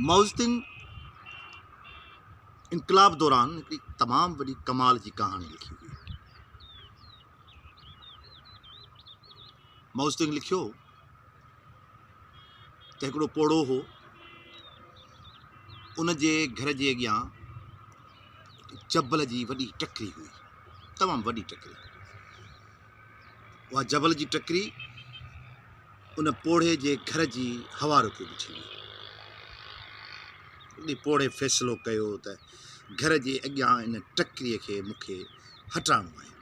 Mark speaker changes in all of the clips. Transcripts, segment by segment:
Speaker 1: Mao Tse-tung انقلاب دوران هڪڙي تمام وڏي ڪمال جي ڪهاڻي لکي هئي مائوزتنگ لکيو ته هڪڙو پوڙهو هو ان جي گهر جي اڳيان چبل جي وڏي ٽڪري هئي تمام وڏي ٽڪري اها جبل جي ٽڪري ان پوڙهي جي گهر جي هوا رڪي بيٺي هئي. ان پوڙهي فيصلو ڪيو ته گهر جي اڳيان ان ٽڪري کي مون کي هٽائڻو آهي.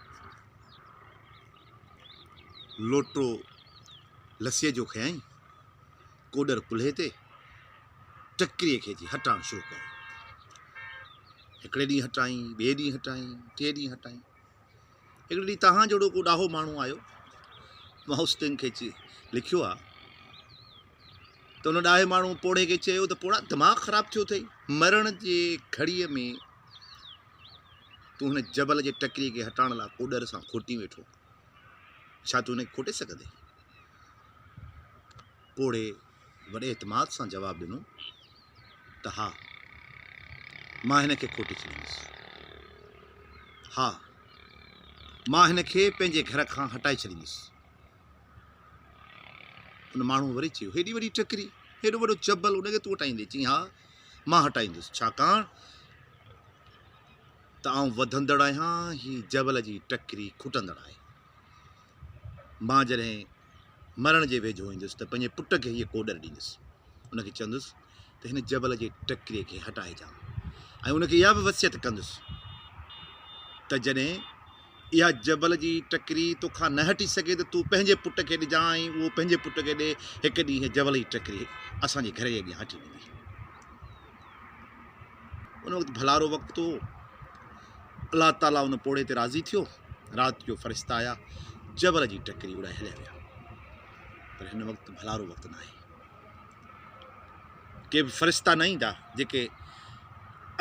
Speaker 1: لوٽو لسيء جو کنيائين، ڪوڏر ڪلهي تي، ٽڪري کي جي هٽائڻ شروع ڪيو. هڪڙي ڏينهن هٽائين، ٻئي ڏينهن هٽائين، ٽئين ڏينهن هٽائين. هڪڙي ڏينهن توهان جهڙو ڪو ڏاهو ماڻهو آيو مائوس تنگ کي چي لکيو آ ته ان ڏاهي ماڻهو پوڙهي کي چيو ته پوڙا دماغ خراب ٿيو اٿئي مرڻ جي گهڙيء ۾ تون هن جبل جي ٽڪري کي هٽائڻ لاء ڪوڏر سان کوٽي ويٺو ڇا تون هن کي کوٽي سگهندي پوڙهي وڏي اعتماد سان جواب ڏنو ته ها مان هن کي کوٽي ڇڏيندس. ها مان هن کي پنهنجي گهر کان هٽائي ڇڏيندس. ان ماڻهوء وري چيو هيڏي وڏي ٽڪري هيڏو وڏو جبل ان کي تون هٽائيندين؟ چيائين ها مان هٽائيندس ڇاڪاڻ ته آئون وڌندڙ آهيان هي جبل جي ٽڪري کٽندڙ آهي. مان جڏهن مرڻ جي ويجهو ايندس ته پنهنجي پٽ کي هيء ڪوڏر ڏيندس، ان کي چوندس ته هن جبل جي ٽڪري کي هٽائجان ۽ ان کي اها به وصيت ڪندس ته جڏهن اها جبل جي ٽڪري توکان نه هٽي سگهي ته تون پنهنجي پٽ کي ڏجان ۽ اهو پنهنجي پٽ کي ڏي، هڪ ڏينهن هيء جبل جي ٽڪري اسان جي گهر جي اڳيان هٽي ويندي. ان وقت ڀلارو وقت هو الله تعالٰي ان پوڙهي تي راضي ٿيو رات جو فرشتا آيا جبر جي ٽڪري اڙائي هليا ويا پر هن وقت ڀلارو وقت نه آهي ڪي به فرشتا نه ايندا جيڪي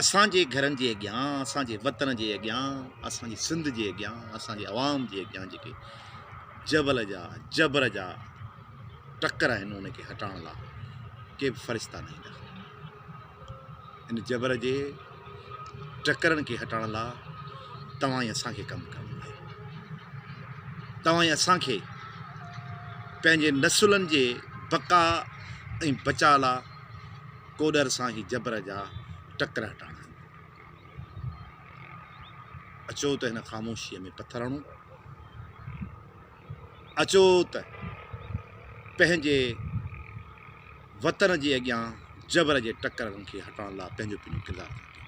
Speaker 1: اسانجي گهرن جي اڳيان اسانجي وطن جي اڳيان اسانجي سنڌ جي اڳيان اسانجي عوام جي اڳيان جيڪي جبل جا جبر جا ٽڪر آهن ان کي هٽائڻ لا ڪي به فرشتا نه ايندا ان جبر جي ٽڪرن کي هٽائڻ لا توهان ئي اسان کي ڪم ڪرڻو آهي توهان ئي اسان کي پنهنجي نسلن جي بقا ۽ بچا لا ڪوڏر سان هي جبر جا ٽڪر هٽائڻا آهن اچو ته هن خاموشيء ۾ پٿر هڻون اچو ته پنهنجي وطن جي اڳيان جبر جي ٽڪرن کي هٽائڻ لاء پنهنجو پنهنجو ڪردار ادا ڪيون.